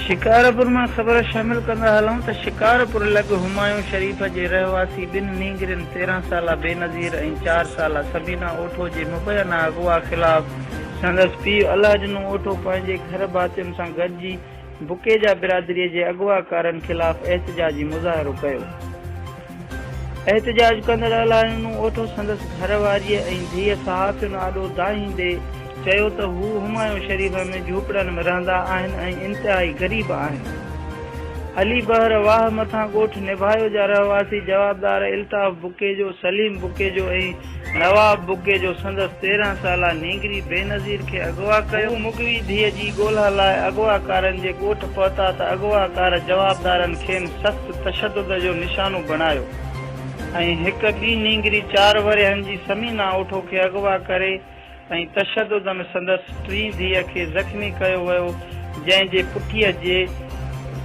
شڪارپور مان خبر شامل ڪندا هلون ته شڪارپور لڳ همايون شريف جي رهواسي ٻن نينگرين تيرهن سالا بينظير ۽ چار سالا سبينا اوٺو جي مبينا اغوا خلاف سندس پيء الله ڏنو اوٺو پنهنجي گهر ڀاتين سان گڏجي بکيجا برادري جي اغواڪارن خلاف احتجاجي مظاهرو ڪيو. احتجاج ڪندڙ الايونو اوٺو سندس گهر واريء ۽ ڌيء صحافين آڏو دانهيندي چيو ته هو همايون شريف ۾ جهوپڙن ۾ رهندا آهن ۽ انتهائي غريب آهن. علي بحر واهه مٿان ڳوٺ نڀايو جا رهواسي جوابدار الطاف بکيجو، سليم بکيجو ۽ نواب بگي جو سندس تيرهن سالا نينگري بينظير کي اغوا ڪيو. هو مغوي ڌيء جي ڳولها لاء اغواڪارن جي ڳوٺ پهتا ته اغواڪار جوابدارن کين سخت تشدد جو نشانو بڻايو ۽ هڪ ٻي نينگري چار ورهين جي ثمينه اوٺو کي اغوا ڪري ۽ تشدد ۾ سندس ٽين ڌيء کي زخمي ڪيو ويو جنهن جي پٺيء جي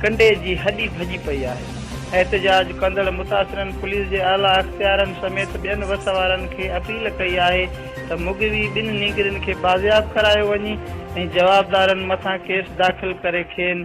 ڪنڊي جي هڏي ڀڄي پئي آهي. احتجاج ڪندڙ متاثرن پوليس جي اعليٰ اختيارن سميت ٻين وس وارن کي اپيل ڪئي آهي ته مغوي ٻن نينگرين کي بازياب ڪرايو وڃي ۽ جوابدارن مٿان ڪيس داخل ڪري کين